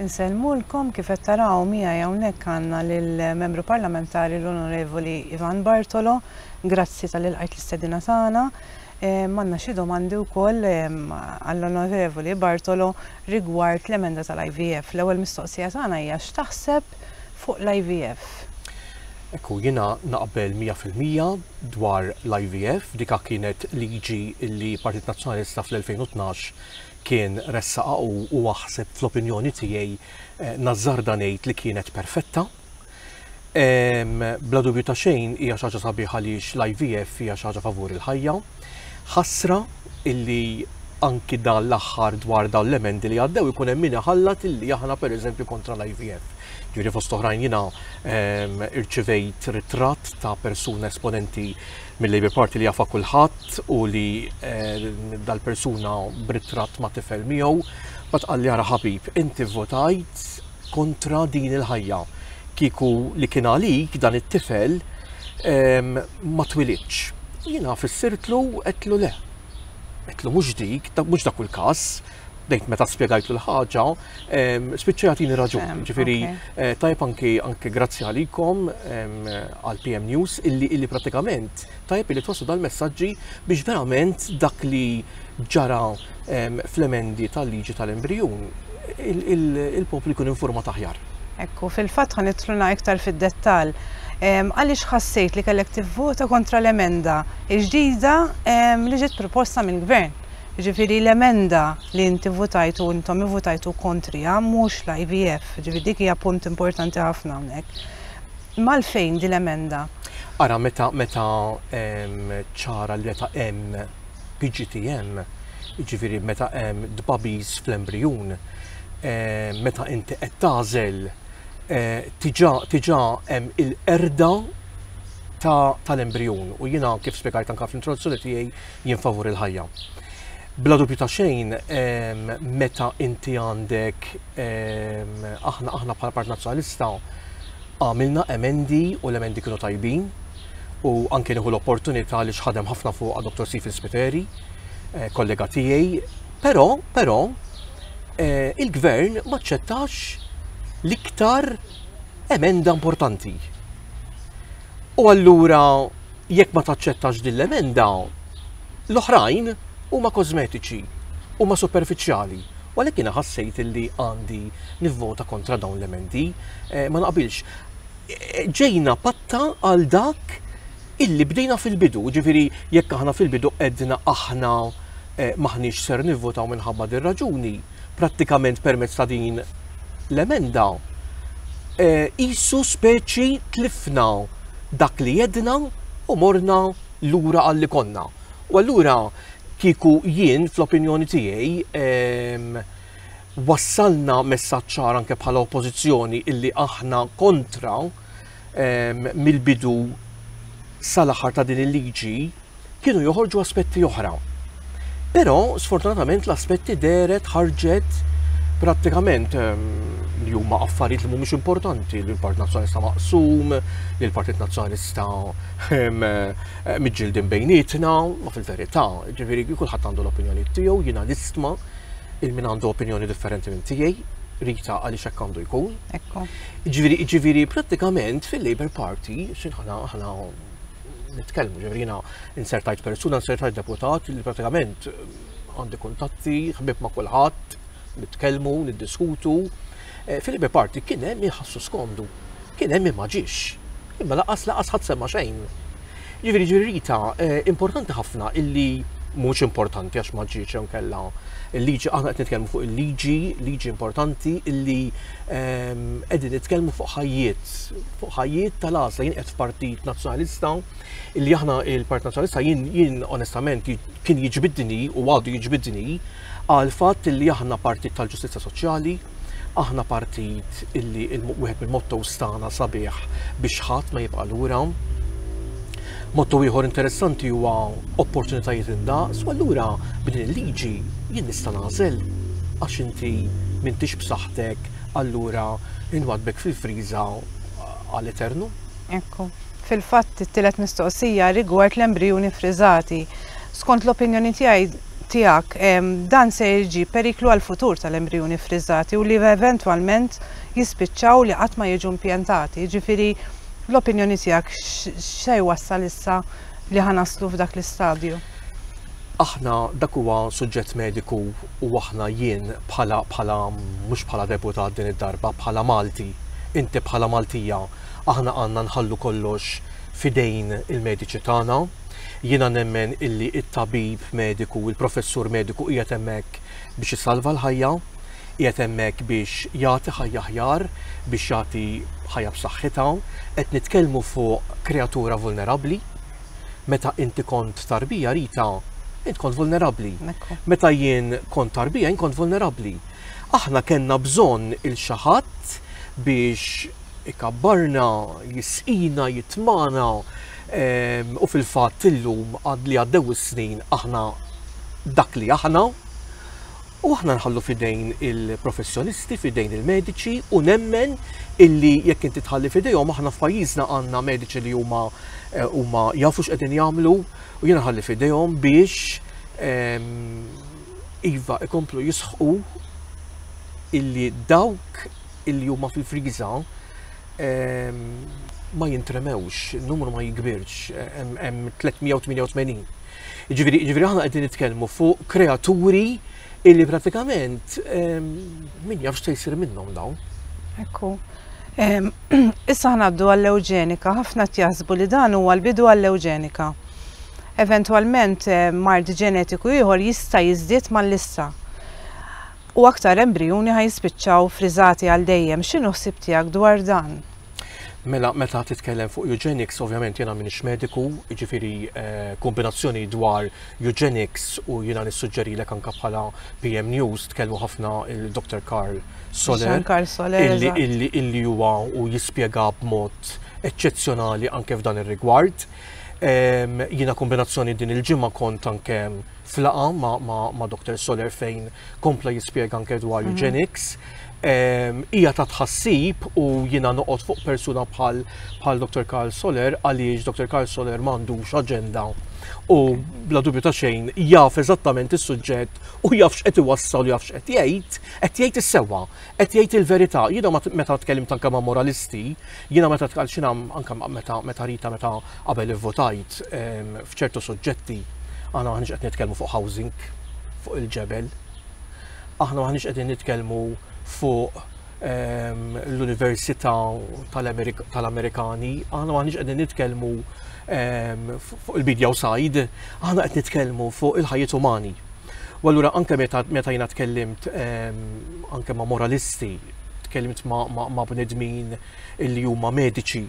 Insellmulkom, kif qed taraw miegħi hawnhekk għandna lill-Membru Parlamentari l-Onorevoli Ivan Bartolo. Grazzi talli lqajt l-istedina tagħna. Ehm, għandna xi domandi wkoll ehm, għall-Onorevoli Bartolo rigward l-emenda tal-IVF. L-ewwel mistoqsija tagħna hija x'taħseb fuq l-IVF. Ekku, jina naqbel 100% dwar l-IVF, dika kienet liġi li Partit Nazzjonalista fl-2012 kien ressaqha hu u aħseb fl-opinjoni tiegħi nażżarda ngħid li kienet perfetta. Bla dubju ta' xejn hija xi ħaġa sabiħa għaliex l-IVF hija xi ħaġa favur il-ħajja. Ħasra illi anki dan l-aħħar dwar dawn l-emendi li għaddew ikun hemm min iħallat illi aħna pereżempju kontra l-IVF. Ġifieri fost oħrajn jiena irċivejt ritratt ta' persuna esponenti mill-Labour Party li jafha kulħadd u li eh, dal-persuna b'ritratt ma' tifel miegħu, bat qalli ara ħabib, inti votajt kontra din il-ħajja. Kiku li kien għalik dan it-tifel ehm, ma twilitx. Jiena fissirtlu qedlu le. Qedlu mhux dik, mhux dak il-każ, bdejt meta spjegajtlu l-ħaġa, ehm, spiċċa jagħtini raġun. Ehm, Ġifieri eh, tajb anki anki grazzi għalikom ehm, għal PM News illi illi pratikament tajb illi twaslu dal-messaġġi biex verament dak li ġara fl-emendi tal-liġi tal-embrijun il-poplu jkun informa taħjar. Ekku, fil-fatt ħan itluna iktar fid-dettal. Għaliex ħassejt li kellek tivvota kontra l-emenda il-ġdida li ġiet proposta mill-gvern? Jiġifieri l-emenda li inti votajtu u intom ivvotajtu kontriha mhux l-IVF, jiġifieri dik hija punt importanti ħafna hawnhekk. Imma għalfejn din l-emenda? Ara meta meta ċara li meta hemm PGTM, jiġifieri meta hemm tbagħbis fl-embrijun, meta inti qed tagħżel tiġà tiġà hemm il-qerda tal-embrijun u jiena kif spjegajt anke fl-introduzzjoni tiegħi jien favur il-ħajja. Bla dubju ta' xejn, meta inti għandek aħna aħna bħala Partit Nazzjonalista għamilna emendi u l-emendi kienu tajbin u anke nieħu l-opportunità li xħadem ħafna fuq Dr. Sifil Spiteri, eh, kollega tiegħi, però però eh, il-gvern maċċettax l-iktar emenda importanti. U allura jekk ma taċċettax din l-emenda, l-oħrajn huma kożmetiċi, huma superfiċjali. U għalhekk jiena ħassejt li għandi nivvota kontra dawn l-emendi. Eh, ma naqbilx. Eh, ġejna patta għal dak illi bdejna fil-bidu, ġifiri jekk aħna fil-bidu edna aħna eh, maħniex ser nivvotaw minħabba dir-raġuni, prattikament permezz ta' din l-emenda, qisu eh, speċi tlifna dak li jedna u morna lura għalli konna. U allura kieku jien fl-opinjoni tiegħi ehm, wassalna messaċċar anke bħala oppożizzjoni illi aħna kontra ehm, mill-bidu sal-aħħar ta' din il-liġi kienu joħorġu aspetti oħra. Però sfortunatament l-aspetti deret ħarġet prattikament ehm, li huma affarijiet li mhumiex importanti, li l-Partit Nazzjonalista maqsum, li l-Partit Nazzjonalista ehm, eh, miġġildin bejnietna, ma fil-verità, ġifieri kulħadd għandu l-opinjoni tiegħu, jiena nistma il-min għandu opinjoni differenti minn tiegħi, rita għaliex hekk għandu jkun. Ġifieri, ġifieri prattikament fil-Labour Party, xinħana ħana nitkellmu, ġifieri jiena insertajt persuna, insertajt deputat li pratikament għandi kuntatti, ħbib ma' kulħadd, nitkellmu, niddiskutu. Eh, Fil-ibe parti kien hemm iħassu skomdu, kien hemm ma ġiex. Imma laqas laqas ħadd semma xejn. Ġifieri ġirrita eh, importanti ħafna illi mhux importanti għax ma ġiex kella il-liġi aħna qed nitkellmu fuq il-liġi, liġi importanti illi Qegħdin nitkellmu fuq ħajjiet, fuq ħajjiet tal-għażla jien qed f'Partit Nazzjonalista li aħna il-Partit Nazzjonalista jien jien onestament kien jiġbidni u għadu jiġbidni għal fatt li aħna partit tal-ġustizzja soċjali, aħna partit illi wieħed mill-mottos tagħna sabiħ biex ħadd ma jibqa' lura. Motto ieħor interessanti huwa opportunitajiet indaqs u allura b'din il-liġi jien nista' nagħżel għax inti m'intix b'saħħtek allura inwaddbek fil-friża għal eternu. Ekku. Fil-fatt it-tielet mistoqsija rigward l-embrijuni ffriżati. Skont l-opinjoni tiegħi tiegħek dan se jġib periklu għall-futur tal-embrijuni ffriżati u li eventwalment jispiċċaw li qatt ma jiġu impjantati. Jiġifieri Fl-opinjoni tiegħek x'se jwassal issa li ħa naslu f'dak l-istadju? Aħna dak huwa suġġett mediku u aħna jien bħala bħala mhux bħala deputat din id-darba bħala Malti, inti bħala Maltija, aħna għandna nħallu kollox f'idejn il-mediċi tagħna. Jiena nemmen illi t-tabib mediku, il-professur mediku qiegħed hemmhekk biex isalva l-ħajja, qiegħed hemmhekk biex jagħti ħajja aħjar, biex jagħti ħajja b'saħħitha, qed nitkellmu fuq kreatura vulnerabbli. Meta inti kont tarbija Rita, int kont vulnerabbli. Meta jien kont tarbija, jien kont vulnerabbli. Aħna kellna bżonn il xi ħadd biex ikabbarna, jisqina, jitmana, U fil-fatt illum għad li għaddew is-snin aħna dak li aħna u aħna nħallu fidejn il-professjonisti, fidejn il-mediċi u nemmen illi jekk inti tħalli fidejhom aħna f'pajjiżna għandna mediċi li huma eh, huma jafu x'qegħdin jagħmlu u jiena nħalli fidejhom biex ehm, iva ikomplu jisħqu illi dawk illi huma fil-friża ma jintremewx, numru ma jikbirx, hemm 388. Ġifieri aħna qegħdin nitkellmu fuq kreaturi illi pratikament min jafx se jsir minnhom dawn. Ekku. Issa ħnaddu għall-ewġenika, ħafna tjaħsbu li dan huwa l-bidu għall-ewġenika. Eventwalment mard ġenetiku ieħor jista' jiżdied mal-lista. u aktar embrijuni ħa jispiċċaw friżati għal dejjem. X'inhu ħsieb tiegħek dwar dan? Mela, meta titkellem fuq eugenics, ovvjament jiena m'iniex mediku, jiġifieri eh, kombinazzjoni dwar eugenics u jiena nissuġġerilek anke bħala PM News tkellmu ħafna il-Dr. Karl Soler. Karl Soler. Illi huwa u jispjega b'mod eċċezzjonali anke f'dan ir-rigward. Ehm, jiena kombinazzjoni din il-ġimgħa kont anke f'laqgħa ma' Dr. Soler fejn kompla jispjega anke dwar eugenics. Hija ta' tħassib u jiena noqgħod fuq persuna bħal bħal Dr. Karl Soler għaliex Dr. Karl Soler m'għandux aġenda u bla dubju ta' xejn jaf eżattament is-suġġett u jaf x'qed iwassal jaf x'qed jgħid, qed jgħid is-sewwa, qed jgħid il-verità. Jiena meta tkellimt anke ma' moralisti, Jiena meta tkalċina anke meta meta rita meta qabel ivvotajt ehm, f'ċertu suġġetti aħna maħniex qed nitkellmu fuq housing fuq il-ġebel. Aħna maħniex qegħdin nitkellmu fuq ehm, l-Università tal-Amerikani, aħna maħniex qegħdin nitkellmu ehm, fuq il-bidja u sajd, aħna qed nitkellmu fuq il-ħajjiet umani. U allura anke meta jiena tkellimt anke ma' moralisti tkellimt ma' bnedmin illi huma mediċi,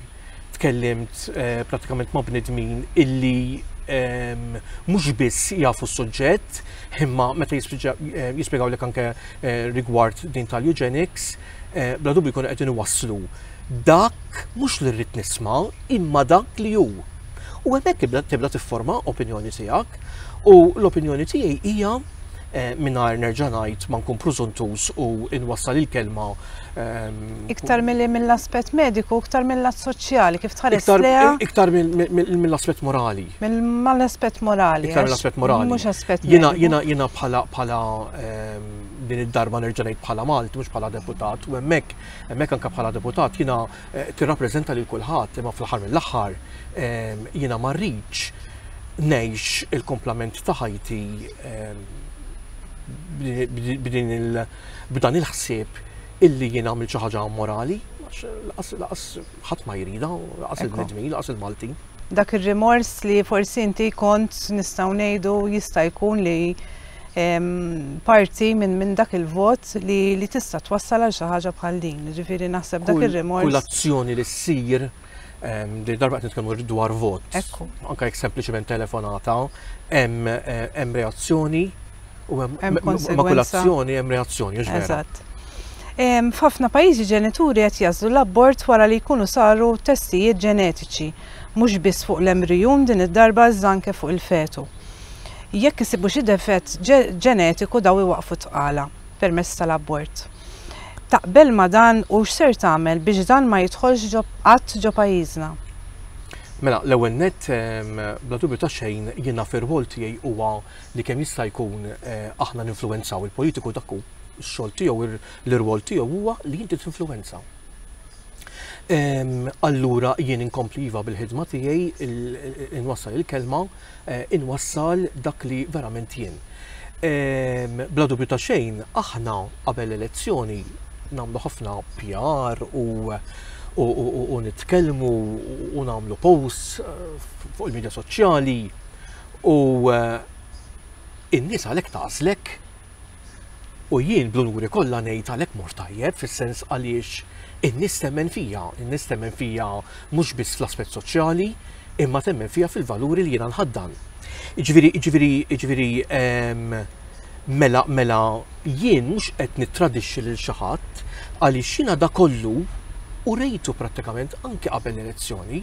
tkellimt eh, pratikament ma' bnedmin illi ehm, mhux biss jafu s-suġġett, imma meta eh, jispjegaw lek anke eh, rigward din tal-eugenics, bla dubju jkunu qed waslu dak mhux li rrid nisma' imma dak li hu. U hemmhekk tibda tifforma opinjoni tiegħek u l-opinjoni tiegħi hija mingħajr nerġa' ngħid ma nkun prużuntuż u nwassal il-kelma Iktar milli mill-aspett mediku, iktar mill-lat soċjali, kif tħares lejha? Iktar mill-aspett morali. Mill-aspett morali. Iktar mill-aspett morali. Mhux aspett. Jiena jiena jiena bħala bħala din id-darba nerġa' ngħid bħala Malti mhux bħala deputat u hemmhekk hemmhekk anke bħala deputat jiena tirrappreżenta lil kulħadd imma fl-aħħar mill-aħħar jiena ma rridx ngħix il-komplament ta' ħajti b'dan il-ħsieb illi jien għamil xi ħaġa morali, laqas ħadd ma jrida, laqas il-bnedmin, laqas il-Maltin. Dak ir-rimors li forsi inti kont nistgħu ngħidu jista' jkun li parti minn min dak il-vot li li tista' twassal għal xi ħaġa bħal din. Ġifieri naħseb dak ir-rimors. Kull azzjoni li ssir ehm, li darba qed nitkellmu dwar vot. Ekku. Anke jekk sempliċement telefonata hemm eh, hemm reazzjoni u hemm ma' kull azzjoni hemm reazzjoni, Eżatt. Ehm, f'ħafna pajjiżi ġenituri qed jażlu l-abort wara li jkunu saru testijiet ġenetiċi, mhux biss fuq l-embrijun din id-darba iżda anke fuq il-fetu. Jekk isibu xi defett ġenetiku dawn iwaqqfu t-tqala permezz tal-abort. Taqbel ma' dan u x'ser tagħmel biex dan ma jidħolx qatt ġo pajjiżna? Mela, l-ewwel nett, bla dubju ta' xejn jiena fir-rwol tiegħi huwa li kemm jista' jkun aħna ninfluwenzaw il-politiku dak hu x-xogħol tiegħu, l-irwol tiegħu huwa li inti tinfluwenza. Allura jien inkompli iva bil-ħidma tiegħi, inwassal il-kelma, inwassal dak li verament jien. Bla dubju ta' xejn, aħna qabel l-elezzjoni nagħmlu ħafna PR u nitkellmu u nagħmlu posts fuq il-midja soċjali u in-nies għalhekk tagħżlek U jien bl-unuri kollha ngħid għalhekk mort tajjeb fis-sens għaliex in-nies temmen fija, in-nies temmen fija mhux biss fl-aspett soċjali, imma temmen fija fil-valuri li jiena nħaddan. Jiġifieri, jiġifieri, jiġifieri ehm, mela, mela jien mhux qed nittradixxi lil xi ħadd għaliex jiena da kollu u rejtu prattikament anke qabel l-elezzjoni,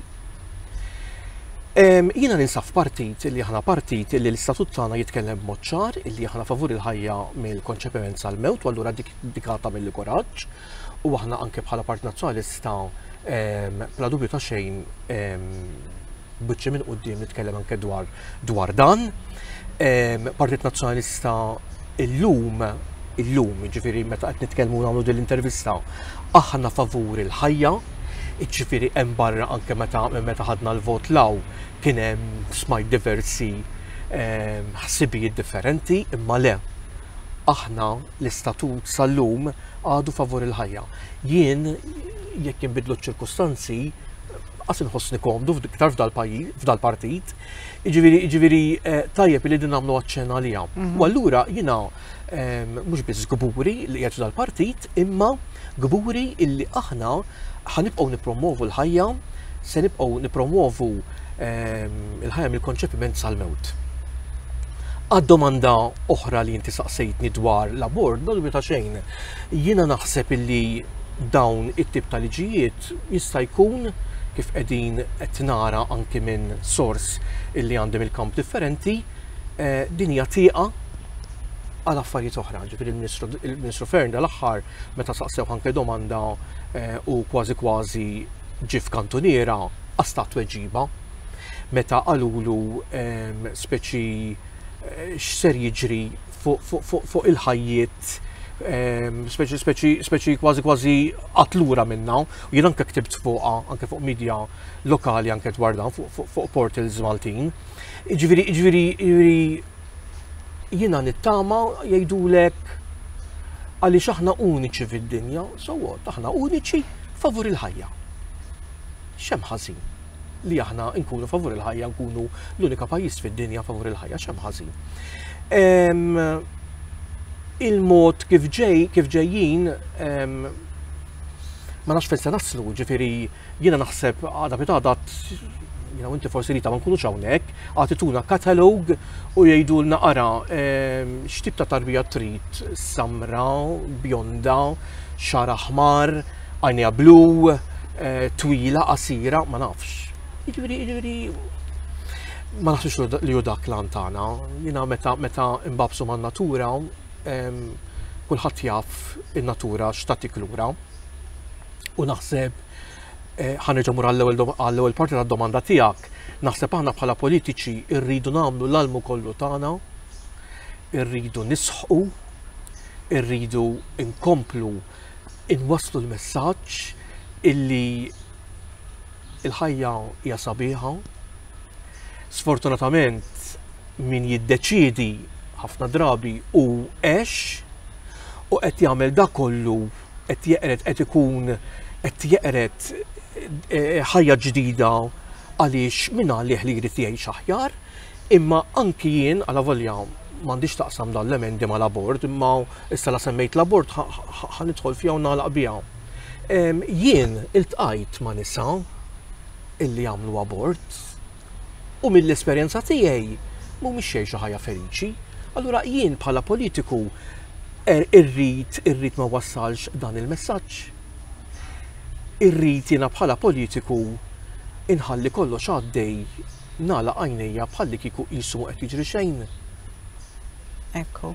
Jiena ninsab f'partit li aħna partit li l-istatut tagħna jitkellem b'mod ċar li aħna favur il-ħajja mill-konċepiment sal-mewt u allura dik dik tagħmilli kuraġġ u aħna anke bħala Partit Nazzjonalista bla dubju ta' xejn b'wiċċi minn quddiem nitkellem anke dwar dwar dan. Partit Nazzjonalista illum illum, ġifiri meta qed nitkellmu nagħmlu din l-intervista, aħna favur il-ħajja, ġifiri hemm barra anke meta meta ħadna l-vot law kien hemm smajt diversi ehm, ħsibijiet differenti, imma le aħna l-istatut sal-lum għadu favur il-ħajja. Jien jekk jinbidlu ċ-ċirkustanzi, qas inħossni komdu iktar f'dal-pajjiż, f'dal-partit. Jiġifieri, jiġifieri eh, tajjeb li din nagħmlu aċċen għaliha. Mhm. U allura jiena ehm, mhux biss gburi li qiegħed f'dal-partit, imma gburi illi aħna ħanibqgħu nippromovu l-ħajja, se nibqgħu nippromovu ehm, il-ħajja mill-konċepiment sal-mewt. Għad-domanda oħra li inti saqsejtni dwar l-abort, dal ta' xejn, jiena naħseb illi dawn it-tip ta' liġijiet Jista' jkun, kif qegħdin qed nara anki minn sors illi għandi mill-kamp differenti, din hija tieqa għal affarijiet oħra. Ġifieri l-Ministru Fearne dal-aħħar meta saqsewh anke domanda u kważi kważi ġie f'kantuniera qas ta tweġiba meta qalulu speċi x'ser jiġri fuq il-ħajjiet speċi kważi kważi qatlura minna. U jien anke ktibt fuqha, anke fuq media lokali anke dwar dan, fuq portals Maltin. Ġviri, ġviri, ġviri, jiena nittama jgħidulek għaliex aħna uniċi fid-dinja, so what, aħna uniċi favur il-ħajja. Xem ħażin. li aħna nkunu favur il-ħajja nkunu l-unika pajjiż fid-dinja favur il-ħajja x'hemm ħażin. Il-mod kif ġej kif ġejjin ma nafx fejn se naslu, ġifieri jiena naħseb għada pitada jina inti forsi li ta' ma nkunux hawnhekk, għatituna katalog u jgħidulna ara x'tip ta' tarbija trid samra, bjonda, xara ħmar, Għajnejha blu, eh, twila, qasira, ma nafx. Jiġifieri, jiġifieri ma naħsux li hu dak lan tagħna. Jiena meta meta imbabsu man-natura, kulħadd jaf in-natura x'tatik lura. U naħseb eh, ħanerġa' mur għall-ewwel parti tad-domanda tiegħek, naħseb aħna bħala politiċi rridu nagħmlu l-almu kollu tagħna irridu nisħu, irridu nkomplu inwasslu l-messaġġ illi il-ħajja hija sabiħa. Sfortunatament min jiddeċiedi ħafna drabi u għex u qed jagħmel da kollu qed jeqret qed ikun qed jeqret eh, ħajja ġdida għaliex minn għalih li jrid jgħix aħjar, imma anki jien għala volja m'għandix taqsam dan l-emendi mal-abort, imma Issa la semmejt l-abort ħa nidħol fiha u nagħlaq biha. Jien iltqajt ma' nisa illi għamlu abort u mill-esperjenza tiegħi mhumiex xejn xi ħajja feliċi. Allura jien bħala politiku er irrid irrid ma wassalx dan il-messaġġ. Irrid jiena bħala politiku inħalli kollox għaddej Nagħlaq għajnejja bħallikieku qisu ma qed jiġri xejn. Ekku.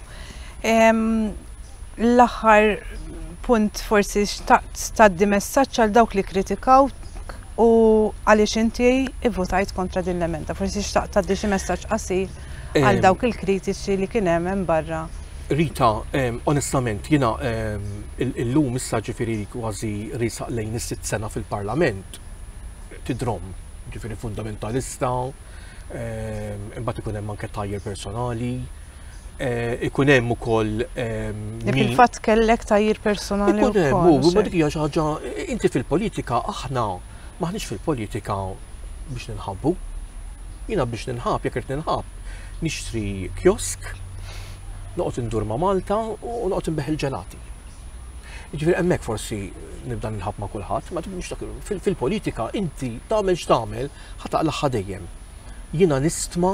L-aħħar punt forsi xtaqt tgħaddi messaġġ għal dawk li kritikaw u għaliex inti ivvutajt kontra din l-emenda. Forsi xtaqt tgħaddi xi messaġġ qasir għal dawk il-kritiċi li kien hemm hemm barra Rita, onestament, jina il-lum issa ġifiri kważi risaq lejn is-sitt sena fil-parlament tidrom, ġifieri fundamentalista, imbagħad ikun hemm anke tajjel personali, Eh, ikun hemm ukoll. Ehm, fil-fatt kellek tajjir personali. Ikun hemm, u ma dik hija xi ħaġa, inti fil-politika aħna maħniex fil-politika biex ninħabbu. Jiena biex ninħab, jekk qed ninħab, nixtri kiosk, noqgħod indur ma' Malta u noqgħod inbeħ il-ġelati. Ġifieri hemmhekk forsi nibda nilħab ma' kulħadd, ma tibux dak fil-politika inti tagħmel x'tagħmel ħataq l-aħħa dejjem. Jiena nistma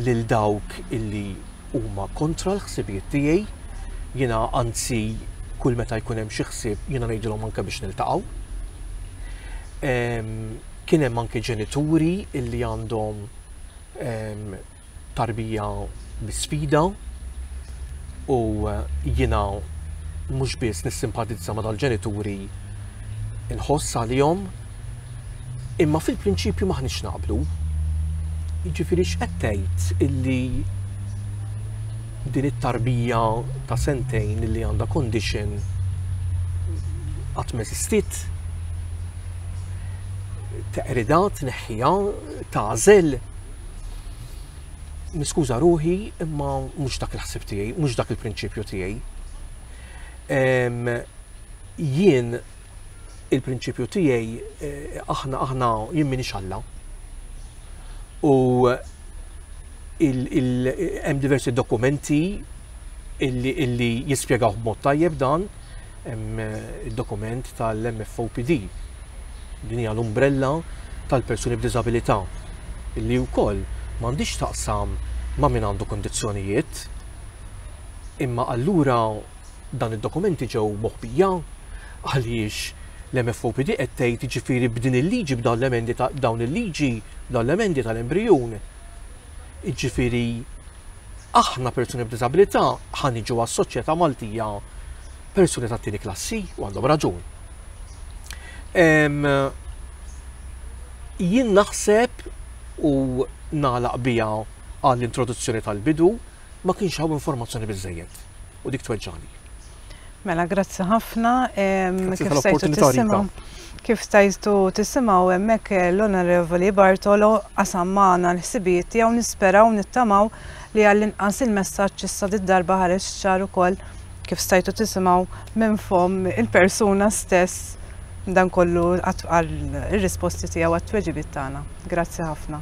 lil dawk illi huma kontra l-ħsibijiet tiegħi, jiena anzi kull meta jkun hemm xi ħsieb jiena ngħidilhom anke biex niltaqgħu. Ehm, kien hemm anke ġenituri illi għandhom ehm, tarbija bi sfida u jiena mhux biss nissimpatizza ma' dal-ġenituri nħoss għalihom imma fil-prinċipju maħniex naqblu. Jiġifieri x'qed tgħid illi din it-tarbija ta' sentejn li għandha condition qatt ma eżistiet teqrida tneħħiha tażel Niskuża ruħi, imma mhux dak il-ħsib tiegħi, mhux dak il-prinċipju tiegħi. Jien il-prinċipju tiegħi eh, aħna aħna jien minix Alla. U hemm diversi dokumenti illi jispjegaw b'mod tajjeb dan, Hemm id-dokument tal-MFOPD. Din hija l-umbrella tal-persuni b'diżabilità li wkoll m'għandhiex taqsam ma' min għandu kondizzjonijiet. Imma allura dan id-dokumenti ġew moħbija għaliex l-MFOPD qed tgħid jiġifieri b'din il-liġi b'dawn l-emendi ta' dawn il-liġi b'dawn l-emendi tal-embrijun. Jiġifieri Aħna persuni b'diżabilità ħa niġu għas-soċjetà Maltija persuni tat-tieni klassi u għandhom raġun. Jien naħseb u nagħlaq biha għall-introduzzjoni tal-bidu ma kienx hawn informazzjoni biżejjed. u dik tweġġagħni. Mela, grazzi ħafna. Kif stajtu tisimaw? Kif stajtu tisimaw hemmhekk eh, l-Onorevoli Bartolo qasam magħna l-ħsibijiet tiegħu nisperaw nittamaw li għall-inqas il-messaġġ issa darba ħareġ ċar ukoll kif stajtu tisimaw minn fom il-persuna stess dan kollu għal ir-risposti tiegħu għat-tweġibiet tagħna. Grazzi ħafna.